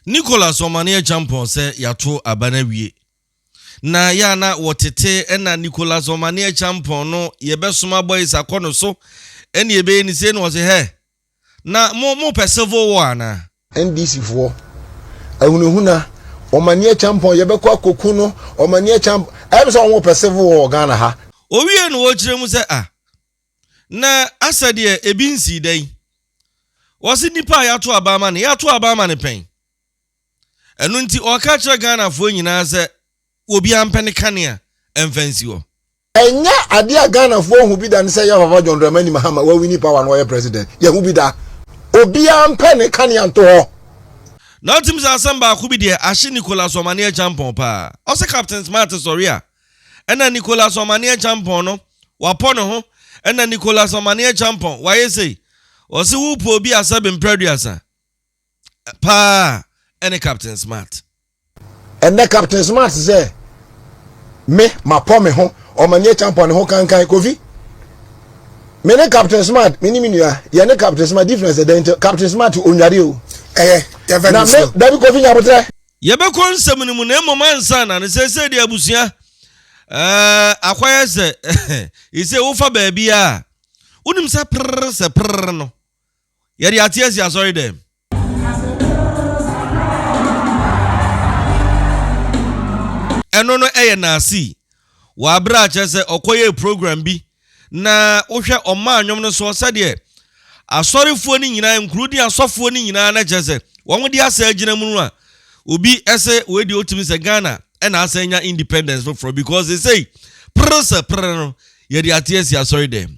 Nicholas Omane Acheampong sɛ yɛato aba no awie. Na yɛ a na wɔtete ɛna Nicholas Omane Acheampong no yɛbɛsoma boys akɔ no so ɛne yɛbɛyɛ ne sei na ɔse hɛ na mo mo pɛ civil war anaa? NDC foɔ ahunahuna Omane Acheampong yɛbɛkɔ akɔku no Omane Acheampong ɛyɛ me sɛ wɔn pɛ civil war wɔ Ghana ha. Ɔwie no ɔkyerɛ mu sɛ ah Na asɛ deɛ ebi nsii da yi. Wɔse nipa a yɛato aban ma no, yɛato aban ma no pɛn? Ɛno nti ɔreka akyerɛ Ghanafoɔ nyinaa sɛ obiara mpɛ ne kanea mfa nsi hɔ. Ɛnyɛ adeɛ a Ghanafoɔ ahu bi da ne sɛ yɛ Papa John Dramani Mahama wawini power na ɔyɛ President. Yɛahu bi da. Obiara mpɛ ne kanea nto hɔ. Na wotim sɛ asɛm baako bi deɛ ahye Nicholas Omane Acheampong paa. Ɔse Captain Smart sɔre a, ɛna Nicholas Ɔmaneɛ Champɔn no wapɔ ne ho ɛna Nicholas Ɔmaneɛ Champɔn wayɛ sei ɔse wo pɛ obi a sɛbe mprɛduasa paa ɛne Captain Smart. Ɛnɛ Captain Smart sɛ me mapɔ me ho Ɔmaneɛ Champɔn ne ho kankan Kofi me ne Captain Smart me ne me nua yɛ ne Captain Smart difference ɛdɛn nti Captain Smart onyare o ɛyɛ na me dabi Kofi Nyabotrɛ Yɛbɛkɔ nsɛm no mu na mmom ansa na no seesei deɛ abusua eh, akɔyɛ sɛ ɛsɛ wofa baabiara a wonim sɛ prrr sɛ prrr no yɛde ate asi asɔre dɛm. Ɛno no ɛyɛ naasii wɔ abere a kyerɛ sɛ ɔkɔyɛɛ program bi Na wohwɛ ɔmaa nnwom no soɔ sɛdeɛ asɔrefoɔ no nyinaa, nkurudin asɔfoɔ no nyinaa na kyerɛ sɛ wɔn de asɛ agyina mu no a, obi ɛsɛ wei deɛ otumi sɛ Ghana ɛna asɛ anya independence foforɔ because esei prrr sɛ prrr no yɛde ate asi asɔre dɛm.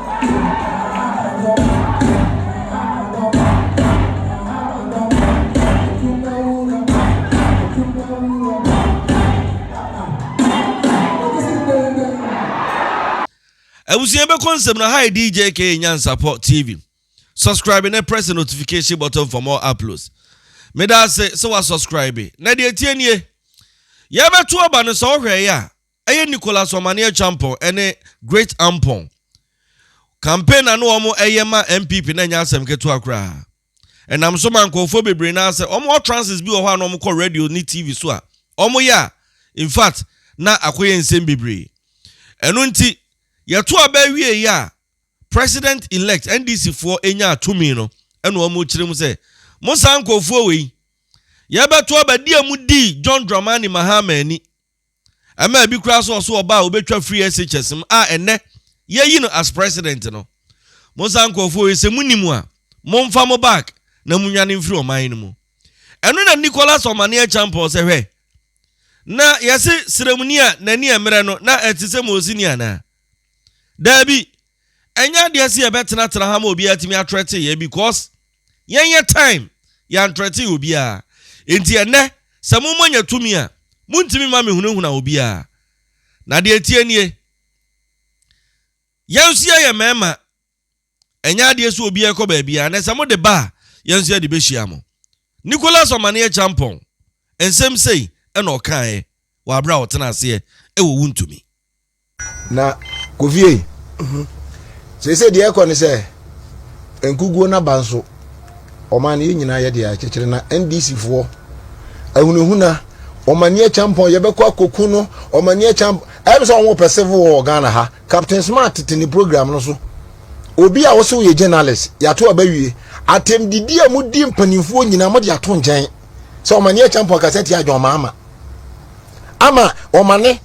abusua bɛkɔ nsɛm no hi dj k nyansapɔ tv subscribe na press the notification button for more uploads meda ase sɛ wa subscribe na deɛ tie nie yɛbɛto aba no sɛ wohwɛeɛ a Ɛyɛ Nicholas Omane Acheampong ne Great Ampong. Campaign a na wɔn ɛyɛ ma NPP no ɛnyɛ asɛm ketewa koraa. Ɛnam so ma nkorɔfoɔ bebree no ara sɛ wɔn utterances bi wɔ hɔ a na wɔn kɔ radio ne TV so a wɔn yɛ a in fact na akɔyɛ nsɛm bebree. Ɛno nti yɛto aba awie yi a President elect NDC foɔ nyaa tumi no ɛna wɔn rekyerɛ mu sɛ mo saa nkorɔfoɔ wei yɛbɛto aba di a mo dii John Dramani Mahama ani Ɛmaa bi koraa so ɔso ɔba a obetwa firi SHS mu a ɛnnɛ yɛayi no as president no. Mo saa nkurɔfoɔ yi sɛ monim a, momfa mo bag na monwane mfiri ɔman no mu. Ɛno na Nicholas Omane Acheampong sɛ hwɛ, na yɛse srɛmuni a n'ani ɛmmerɛ no na ɛte sɛ moosini anaa? Daabi, ɛnyɛ adeɛ sɛ yɛbɛtenatena ha ma obiara atumi atrɛte yɛn because Yɛnyɛ time, yɛantrɛten obiara. Enti ɛnnɛ, sɛ mo mma nya tumi a, montumi mma mehunahuna obiara. Na deɛ ɛteɛ nie, yɛn nso yɛyɛ mmarima, ɛnyɛ adeɛ sɛ obiara rekɔ baabiara, na sɛ mode ba a, yɛn nso yɛde bɛhyia mo. Nicholas Omaneɛ Champong, nsɛm sei na ɔkaeɛ wɔ aberɛ a ɔtena aseɛ wɔ Wontumi. na kofie mhm. seesei deɛ ɛkɔ ne sɛ nkuguo no aba nso ɔman no yɛ nyinaa yɛ deɛ akyekyere na ndc foɔ ahunahuna ɔmani akyampɔn yɛbɛkɔ akɔku no ɔmani akyampɔn ɛyɛ sɛ wɔn pɛ civil war ghana ha captain smart tete ne program no so obi a wɔsɛ wɔyɛ journalist yɛato abawie atɛmdidi a mudi mpanimfoɔ nyinaa mode ato nkyɛn sɛ ɔmane yɛ champion kasa tia john maama ama ɔmane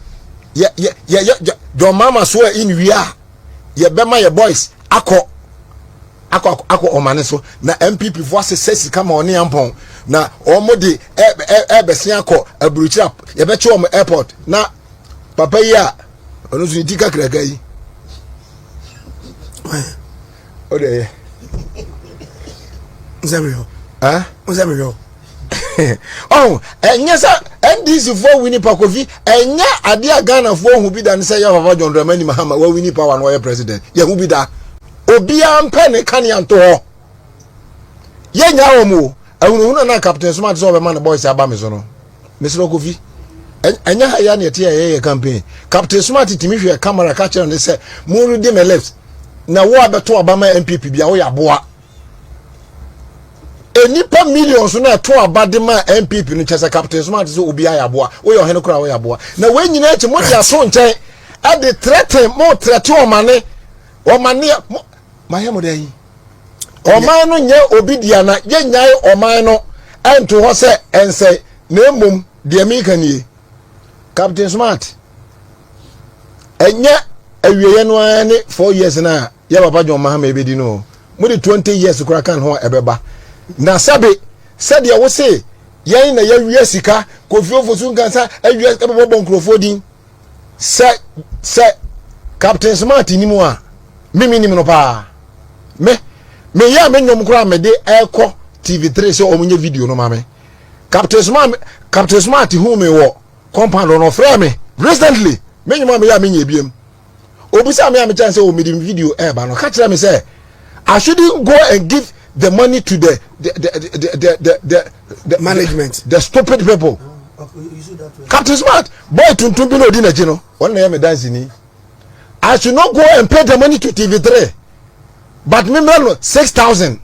yɛ yɛ yɛ john maama so a in wia yɛbɛma yɛ boys akɔ akɔ akɔ ɔmane so na npp fo asesɛ sika ma ɔne yampɔn na wɔn de ɛɛbɛsen akɔ aburukyira yɛbɛkye wɔn airport na papa yi a ɔno nso ne ti kakraka yi. o de yɛ n sɛ mehwɛ o n sɛ mehwɛ o ɔn ɛnyɛ sɛ ndc foɔ wini pa kofi ɛnyɛ adeɛ a ghana foɔ hu bi da ne sɛ yɛ papa john dramani mahama wawini power na ɔyɛ president yɛhu bi da obiara mpɛ ne kanea nto hɔ yɛnya wɔn o ahunahuna na captain soma te sɛ ɔbɛma ne boys aba me so no mesrɛ kofi ɛnyɛ ha yɛ na ɛte yɛ yɛ campaign captain smart tumi hwɛ camera ka kyerɛ ne sɛ mo redi me left na wo abɛto aba ma npp bia woyɛ aboa nnipa millions na ɛto aba de ma npp no kyɛ sɛ captain smart sɛ obi ayɛ aboa woyɛ ɔhene koraa woyɛ aboa na wɔn nyinaa akyi mo de ato nkyɛn ɛde trɛte mo trɛte ɔmane ɔmane mayɛ mo dɛn Ɔman no nyɛ obi dea na yɛnnyae ɔman no nto hɔ sɛ ɛnsɛe, na mmom deɛ meka nie, Captain Smart, ɛnyɛ awieɛ no ara ne 4 years no a yɛ papa John Mahama ɛbɛdi no o, mode 20 years kora ka ne ho a ɛbɛba. Na sɛbe, sɛdeɛ wo se yɛn na yɛawia sika, Kofi Ofosu nkansa awia sika bɛbɔbɔ nkurɔfoɔ din, sɛ sɛ captain smart nim a me me nim no paa me me yɛ me nyom koraa me de ɛkɔ tv3 sɛ ɔmo nyɛ video no ma me captain smart captain smart hu me wɔ compound no ɔfrɛ me recently me nyom a me yɛ a me nyɛ biem obisa me a me kyɛn sɛ ɔmo de video ɛɛba no ka kyerɛ me sɛ I shouldn't go and give the money to the the the the the, the, the the management the, the stupid people oh, okay, captain smart boy tuntun bi na odi n'akyi no wɔn na yɛ mi dansi ni i should not go and pay the money to tv three but mi mìíràn no six thousand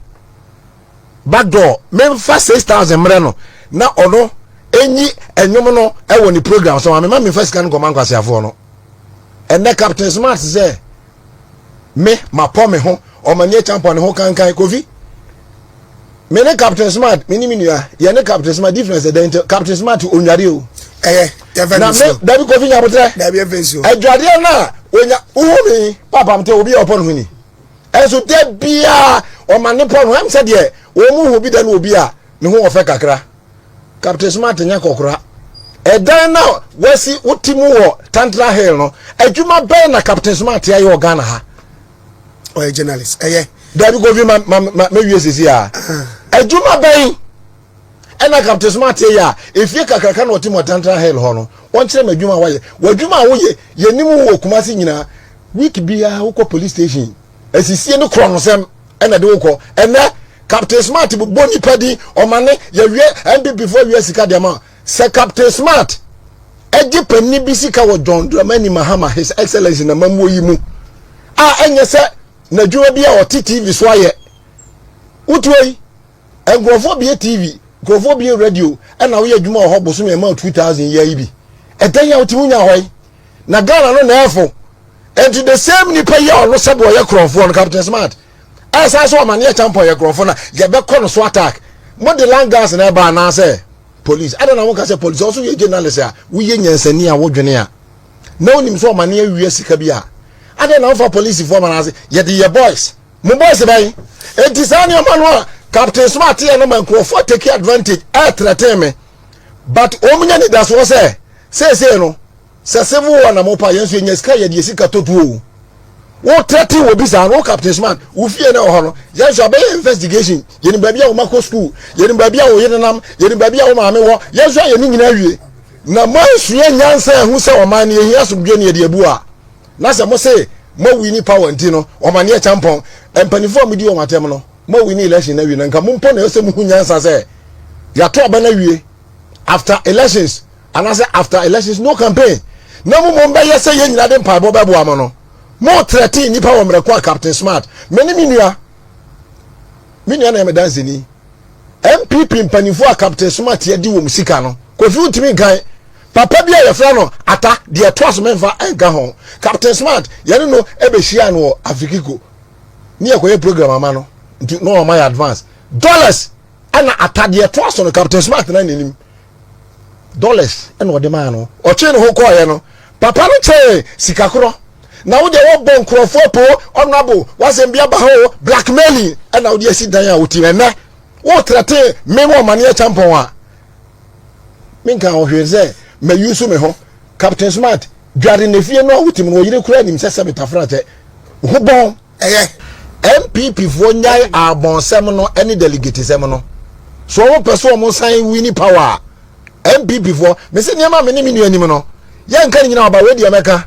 back door mi n fa six thousand mìíràn no na ɔno enyi ɛnyom no ɛwɔ ne program so ma mi ma mi n fa sika no nkɔmɔ ankwasiafoɔ no ɛnɛ captain smart sɛ. Me mapɔ me ho ɔmani akyampɔne ho kankan kofi me ne captain smart me ne me nua yɛ ne captain smart difference ɛdɛn nti captain smart onware o ɛyɛ yɛfɛ na me dabi kofi nyabotrɛ dabi yɛfɛ nsuo adwadeɛ no a onya wohu me papa mte obi yɛ ɔpɔ no ho ni ɛnso da biara ɔma ne pɔ no ho ɛm sɛ deɛ wɔn mu hu bi da no obi a ne ho ɔfɛ kakra Captain Smart nyɛ kɔkora. Ɛdan no a wasi wote mu wɔ Tantra Hill no, adwuma bɛn na Captain Smart ayɛ wɔ Ghana ha? Ɔyɛ journalist. Ɛyɛ. Dabi Kofi ma ma ma mewie sisi a. Adwuma bɛn ɛna Captain Smart yɛ a efie kakraka na ɔte mu wɔ Tantra Hill hɔ no, wɔnkyerɛ me adwuma a wayɛ. W'adwuma a woyɛ, yɛnim wo wɔ Kumasi nyinaa. Week biara wokɔ police station asisie ne korɔnosɛm. ɛna ɛde wo kɔ ɛnɛ captain smart bɔ nipa din ɔmane yɛwie npp fo awia sika deɛ ma sɛ captain smart ɛgye panni bi sika wɔ john dramani mahama his excellence na mamuo yi mu a ɛnyɛ sɛ n'adwuma bi a ɔte tv so ayɛ wotuo yi Nkurɔfoɔ bie TV, nkurɔfoɔ bie radio ɛna woyɛ adwuma wɔ hɔ bosome ɛma 2000 yɛ yi bi. Ɛdɛn a wotumi nya hɔ yi? Na Ghana no na ɛfo. Ɛnti the same nipa yi a ɔno sɛbi ɔyɛ korɔnfoɔ no Captain Smart a saa so amaneɛ champon yɛ korɔnfoɔ na yɛbɛkɔ no so attack. Mo de land gas na ɛba anaasɛ police? Adɛn na mo ka sɛ police ɔso yɛ journalist a woyɛ nyansani a wodwene a na wonim sɛ ɔmaneɛ wia sika bi a adɛn na wofa policefoɔ ma no ase yɛde yɛ boys? Mo boys bɛn? Enti saa nneɛma no a Captain Smart yɛ no ma nkurɔfoɔ take advantage ɛretrɛten me but wɔn nya nidasoɔ sɛ seesei no sɛ civil war na mo pa yɛn nso yɛnya sika yɛde yɛ sika tɔ tuo wo trɛten wɔ bi saa no wo Captain Smart wo fie na ɛwɔ no yɛn nso abɛyɛ investigation yɛnim baabi a wo ma kɔ school yɛnim baabi a wo yere nam yɛnim baabi a wo maame wɔ yɛn nso ayɛ ne nyinaa wie na moansua nyansa ɛho sɛ ɔman no yɛhia asomdwe ne yɛde abu a na sɛ mo se moawi ni power nti no wɔma neɛ kyampɔn mpanimfoɔ a modi wɔn atɛm no moawi ni election no awi no nka mo mpo na ɛsɛ muhu nyansa sɛ yɛato aba no awie after elections anaasɛ after elections no campaign na mo mmom bɛyɛ sɛ yɛn nyinaa de mpaebɔ bɛboa mo no mo trɛte nnipa wɔ mmerɛko a captain smart me ne me nua me nua na yɛ me danseni mpp mpanimfoɔ a captain smart yɛde wɔn sika no kofi ntumi nkan Papa bi a yɛfrɛ no Ata, deɛ ɛtoa so memfa nka ho, Captain Smart, yɛne no bɛhyiaa no wɔ Afikiko ne yɛkɔyɛ program ama no nti na ɔma yɛ advance dollars ɛna Ata deɛ ɛtoa so no Captain Smart na n'anim dollars ɛna ɔde maa no ɔtwee ne ho kɔɔeɛ no papa no kyɛɛ sika korɔ na wo deɛ wɔbɔ nkurɔfoɔ apo ɔnabo wasɛm bi aba hɔ blackmailing ɛna wode asi dan a wotim ɛnɛ wotrɛte me wɔ ɔmaneɛ kyampɔn a menka ho hwee sɛ mayi so me ho captain smart dware na fie no a wotim no ɔyere kura nim sɛ sɛ metafra kyɛ ho bɔn ɛyɛ npp foɔ nyae abɔnsɛm no ɛne delegate sɛm no so wɔn pɛ so wɔn san wini power a npp foɔ mese nneɛma me ne me nua nim no yɛnka ne nyina ɔba wei deɛ mɛka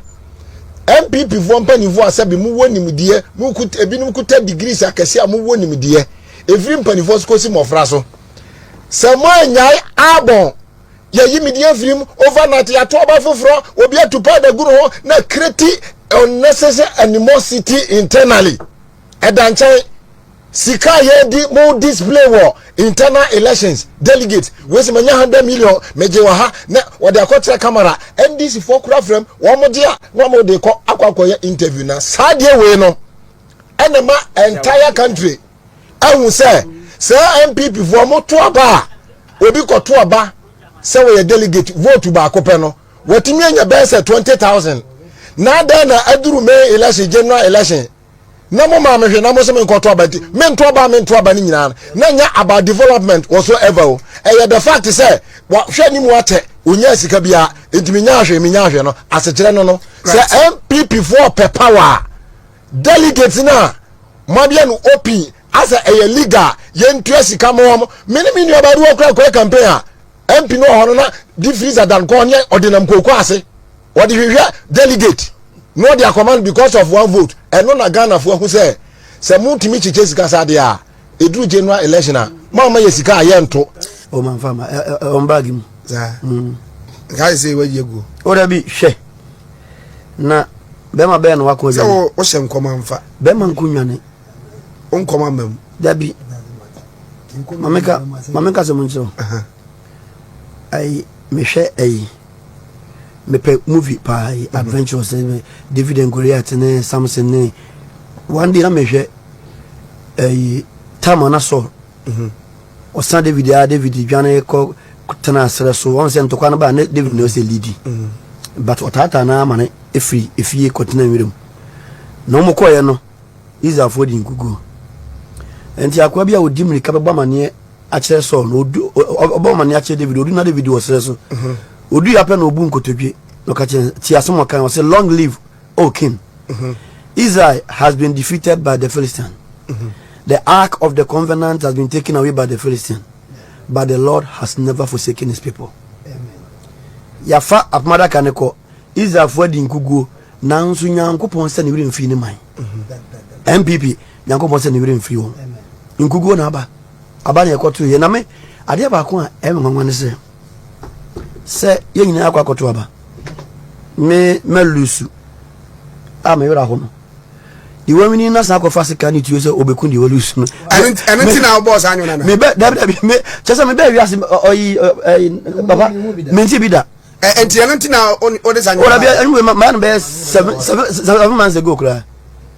npp foɔ mpanimfoɔ a sɛbi mowɔ nimdeɛ mokut ebinom kuta degrees akɛse a mowɔ nimdeɛ ɛfiri mpanimfoɔ so kɔsi mmɔfra so Sɛ mo anyae abɔn, yɛyi me din afiri mu overnight, yɛato ɔba foforɔ, obi atu powder gu ne ho na create unnecessary animosity internally. Ɛda nkyɛn, sika a yɛdi mo display wɔ internal elections, delegate, wei sɛ manya 100 million, megye wɔ ha, na wɔde akɔkyerɛ camera, NDC foɔ kora frɛm, wɔn gye a, na wɔn de kɔ akɔ akɔyɛ interview na saa deɛ wei no, ɛna ma entire country. ahu sɛ saa NPP foɔ mo to aba a obi kɔ to aba sɛ wɔyɛ delegate vote baako pɛ no wɔtumi anya bɛyɛ sɛ twenty thousand na adɛn na aduru May election general election na mo maa me hwɛ na mo sɛ me nkɔ to aba nti me nto aba me nto aba ne nyinaa na nya about development wɔ so ever o ɛyɛ the fact sɛ wɔhwɛ ne mu akyɛ onyaa sika biara nti me nya ahwɛ me nya ahwɛ no asekyerɛ no no sɛ NPP foɔ pɛ power delegate no a moabea no opin asɛ ɛyɛ legal yɛntua sika ma wɔn me ne me nua baa bi wɔ kora kɔɛ campaign a mp no wɔ hɔ no na de freezer dan kɔɔ ne ɔde nam kooko ase wɔde hwehwɛ delegate na wɔde akɔma no because of one vote ɛno na ghanafoɔ ahu sɛ sɛ motumi kyekyɛ sika saa deɛ a ɛduru general election a ma ɔma yɛ sika a yɛnto ɔmanfa ma ɔmbag mu nkae sɛ wɔyɛ guo woda bi hwɛ na bɛrima bɛyɛ na wakɔ adwane. sɛ wohyɛ nkɔm amfa. bɛrima nko nnwane. wo nkɔm ama mu. dabi mameka mameka sɛ mo nkyerɛ wo ayi mehwɛ ayi mepɛ movie paa yi mhm. adventures eh, david and goliath ne samson ne one day na mehwɛ ayi tam ana saul mhm. Ɔsa David a David dwane kɔ tenaa serɛ so. Wɔn sɛ ntɔkwa no ba ne David na ɔsɛ lidi. Mm. But ɔtaataa no ama no efiri efie kɔtena nwuram. Na wɔn kɔɛ no Israelfoɔ di nkuguo. Nti akoa bi a ɔdi mmirika bɛbɔ amaneɛ akyerɛ Saul na ɔdu ɔbɔ amaneɛ akyerɛ David ɔdu na David wɔ serɛ so. Ɔdu mm-hmm. yɛ apɛ na ɔbu nkotodwe na ɔka kyerɛ ti asɛm ɔkan ɔsɛ long live Oh, Kim, Israel has been defeated by the Philistine. The ark of the covenant has been taken away by the Philistine, but the Lord has never forsaken his people. Yɛafa apam adaka no kɔ, Israelfoɔ adi nkuguo, nanso Nyankopɔn sɛ ne werɛ mfiri ne man. MPP, Nyankopɔn sɛ ne werɛ mfiri wɔn. Nkuguo na aba, aba na ɛkɔto yɛ. Na me, adeɛ baako a ɛyɛ me nwanwa ne sɛ, sɛ yɛn nyinaa akɔ akɔto aba me mɛlusu a me werɛ ho no deɛ wawini no asan akɔfa sika ne tuo sɛ ɔbɛku deɛ walusu no ɛno nti na wobɔɔ saa nwona no mebɛ dabi dabi me kyɛ sɛ mebɛ wiase ɔyi papa mente bi da ɛnti ɛno nti na wode saa nwona no ɔdabi ɛno wei ma ma no bɛyɛ seven seven seven months ago koraa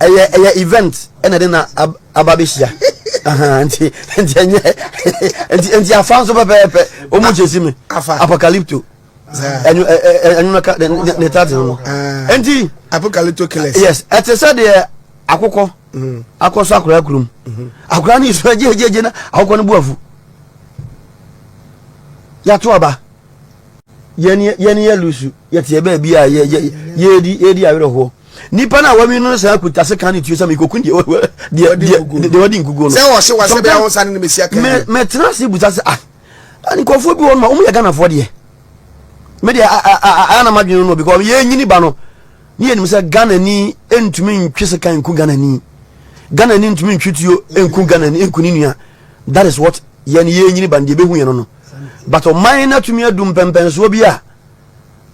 ɛyɛ ɛyɛ event ɛna de na aba abɛhyia nti nti ɛnyɛ nti nti afa nso pɛpɛɛpɛ ɔmu kyɛ si mi apocalypto ɛnu ɛnu na ka ne ta ti no nti apocalypto killers yes ɛte sɛ deɛ akokɔ mm. akɔ so akora kurom mm-hmm. akora ne nsu agyegyegye na akokɔ no bu afu yàtò aba. yɛne yɛ lusu yɛteɛ baabi a yɛdi awerɛhoɔ nipa no a wawi no saa kuta se ka ne tuo sɛ mekɔku deɛ wadi nkukuo no mɛtena ase busa sɛ ah nkurɔfoɔ bi wɔ no ma wɔyɛ ghanafoɔ deɛ medeɛ ayɛ na madwene no because yɛnyini ba no ne yɛnim sɛ ghanani ntumi ntwe se ka nku ghanani ghanani ntumi ntwe tuo nku ghanani nku ne nua that is what yɛne yɛnyini ba no deɛ bɛhu yɛ no no but ɔman no atumi adu mpɛmpɛnsoɔ bi a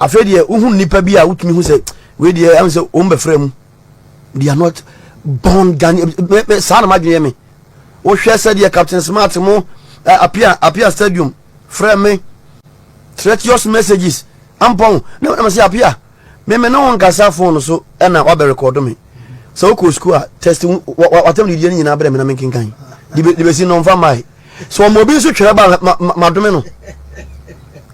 afei deɛ wohu nnipa bi a wotumi hu sɛ wei deɛ ɛhu sɛ wɔn bɛfrɛ mu they are not born Ghanaian saa na madwene me wohwɛ sɛdeɛ captain smart mo eh, apia apia stadium frɛ me treacherous messages ampɔn na wɔn sɛ apia Me me ne wo nkasa phone so ɛna wabɛ record me. Sɛ wokɔ school a test watam deɛ no nyinaa brɛ me na menkenkan. De bɛsi no mfa mmae. Sɛ wɔn obi nso twerɛ ba ma ma dome no.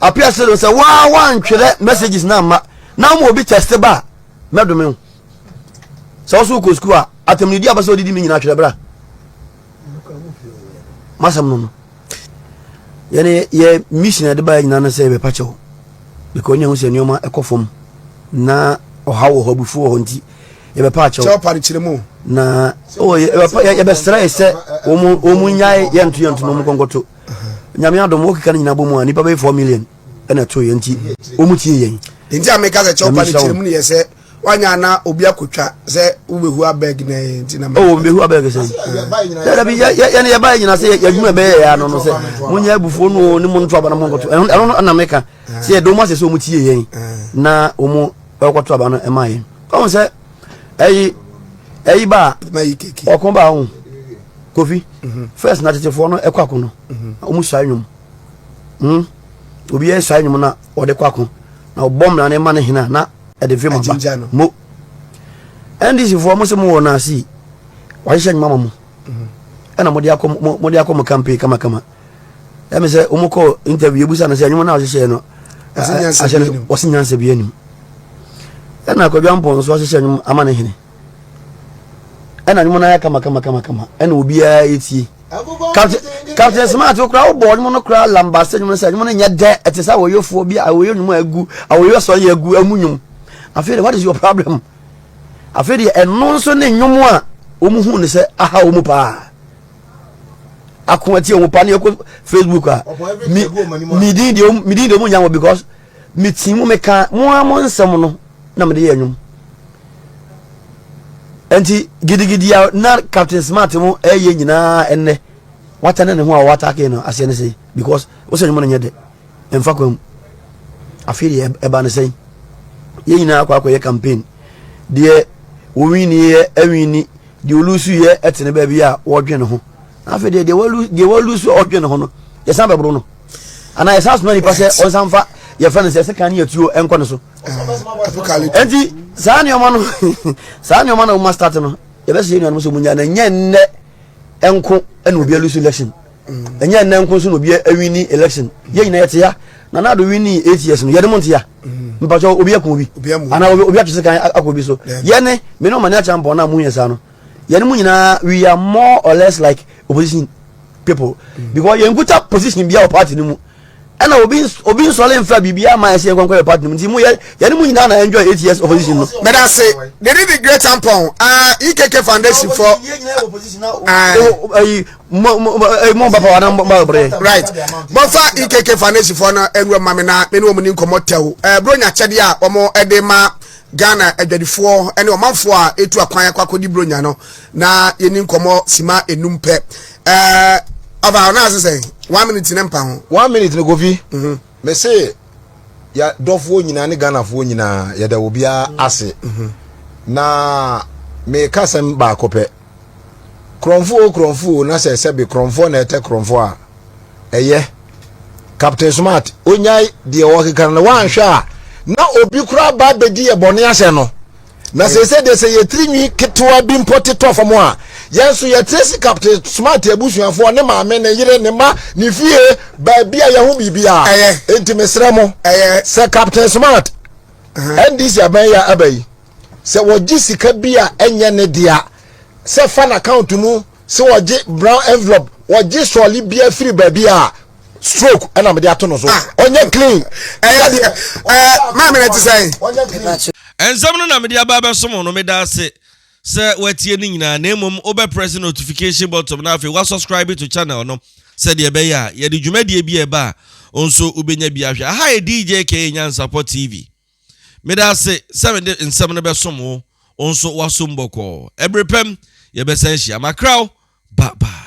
Apia sɛ sɛ waa wantwerɛ messages na amma na wɔn obi test ba a mɛdome wo. Sɛ wɔso wokɔ school a atam ne di abasa odidi me nyinaa twerɛ bra. masɛm no no yɛne yɛ mission a ɛde baeɛ nyinaa no sɛ yɛbɛpa kyɛw because ne ɛho sɛ nneɛma ɛkɔ fam na ɔha wɔ hɔ abufuo wɔ hɔ nti yɛbɛpa akyɛw na yɛbɛsrɛ yɛ sɛ wɔn nyae yɛnto yɛnto no wɔn kɔnkɔto nyame adom wɔkeka no nyinaa bɔ mu a nnipa bɛyɛ 4 million ɛna ɛto yɛ nti wɔn tie yɛn nti a meka sɛ kyɛw pa no kyerɛ mu ne yɛ sɛ wanya na obi akotwa sɛ wobɛhu abɛg na ɛyɛ nti na mɛhu oh, mɛhu abɛg sɛ dabi yɛne yɛbaɛ nyina sɛ yɛadwuma ɛbɛyɛ yɛ ano no sɛ monyɛ abufuo no ne mo nto aba no monkɔto ɛno na meka sɛ yɛde wɔm asɛ sɛ wɔm tie yɛn na wɔm ɛkɔto aba no ɛma yɛn ɔhu sɛ ɛyi ɛyi ba ɔko ba ho kofi mhm. first na tetefoɔ no ɛkɔ ako no wɔm mhm. suae nwom hmm? obiara suae nwom na ɔde kɔ ako na ɔbɔ mmara no ma no hena na ɛde fi mo ba mo ndc foɔ mo se mo wɔ no ase wahyehyɛ nnwuma ma mo ɛna mode akɔ mode akɔ mo campaign kama kama ɛmi sɛ wɔn kɔ interview ebusa no sɛ nnwuma no a wahyehyɛ no ahyɛ no wɔsi nyansa bi anim ɛna akɔdwa mpɔn nso ahyehyɛ nnwuma ama ne hene. ɛna ɔmo nan ayɛ kama kama kama kama ɛna obiara etie captain captain smart okura ɔbɔ ɔmo no kura lamba se ɔmo no sɛ ɔmo no nyɛ dɛ ɛte sɛ awoyefoɔ bi awoye ɔmo a egu awoye sɔn yɛ egu ɛmu nyom afei de what is your problem afei de ɛno nso ne nyom a ɔmo hu ne sɛ aha ɔmo paa ako atie ɔmo paa ne ɛkɔ facebook a mi mi din deɛ ɔmo mi din deɛ ɔmo nya wɔ because. Metsii mu mekaa mo ara mo nsɛm no na mede yɛɛ nnwom. Enti gidigidi a na Captain Smart mo ɛyɛ nyinaa ɛnnɛ wata ne ne ho a wɔatake no aseɛ ne sɛn because wosɛ nnwom no nyɛ dɛ ɛmfa kwan mu. Afei deɛ ɛba ne sɛn yɛn nyinaa akɔ akɔyɛ campaign deɛ wɔwiniiɛ awini deɛ ɔlusuiɛ ɛte ne baabi a wɔdwe ne ho afei deɛ deɛ wɔlusu a ɔdwe ne ho no yɛsan bɛboro no. anaa yɛsan soma nipa sɛ ɔnsan fa yɛfrɛ no sɛ sekan ne yɛtuo nkɔ no so ɛnti saa nneɛma no saa nneɛma no woma start no yɛbɛsɛ yɛ nuanom sɛ munya na ɛnyɛ nnɛ ɛnko ɛna obi alusu election ɛnyɛ nnɛ nko nso na obi awini election yɛn nyinaa yɛte ya na na do wini eight years no yɛde mo nte ya mpatsɔ obi akun obi anaa obi atwese kan akɔ obi so yɛne me ne ɔmane akyɛ mpɔn na mo yɛ saa no Yɛn mu nyinaa we are more or less like opposition people mm. because yɛn kuta position bi a wɔ party no mu ɛna obi obi nsɔle nfa biribi ama ɛsɛ yɛn kɔnkɔn yɛ party no mu nti mu yɛ yɛn mu nyinaa na enjoy eight years opposition no. mɛda ase they did the great tampon uh, ekk foundation for. ayi mo mo mo bapa wa na mo ba bere. right bɔnfa ekk foundation for na ɛnu ɛma mi na mi ni wɔn ni nkɔmɔ tɛw ɛɛ bro nya kyɛdeɛ a wɔn ɛde ma. Ghana adwadifoɔ ne ɔmanfoɔ a etu akwan akɔ akɔdi buronya no na yɛni nkɔmmɔ sima enum pɛ ɛɛ ɔfa ɔno ase sɛ one minute ne mpa ho. one minute ne kofi mhm. mese yɛ dɔfoɔ nyinaa ne ghanafoɔ nyinaa yɛda obiara ase mhm. na meka sɛm baako pɛ Korɔmfo o korɔmfo o na sɛ sɛbe korɔmfoɔ na ɛtɛ korɔmfoɔ a ɛyɛ Captain Smart onyae deɛ ɔkeka no wanhwɛ a na obi koraa ba bɛdi yɛ bɔne ahyɛ no na sɛ sɛ deɛ sɛ yɛtiri nwi ketewa bi mpɔ tetɔ fam a yɛn nso yɛtire si Captain Smart abusuafoɔ ne maame ne yere ne ma ne fie baabi a yɛho biribiara enti mesrɛ mo sɛ Captain Smart NDC abɛn yɛ aba yi sɛ wɔgye sika bi a ɛnyɛ ne dea sɛ fa n'account mu sɛ wɔgye brown envelope wɔgye sɔɔle bia firi baabi a stroke ɛna mede ato no so ah. ɔnyɛ clean ɛyɛ deɛ ɛɛ maame na ti sɛn. nsɛm no na mede aba abɛsom no meda ase sɛ watie no nyinaa na mmom wobɛ press notification button na afei wasubscribe to channel no sɛdeɛ ɛbɛyɛ a yɛde dwumadie bi a ɛba a nso wobɛnya bi ahwɛ aha yɛ dj ka nyansapɔ tv Meda ase sɛ mede nsɛm no bɛsom wo, wo nso woasom bɔkɔɔ. Ɛbere pɛm yɛbɛsan ahyia. Makra wo. Bye bye.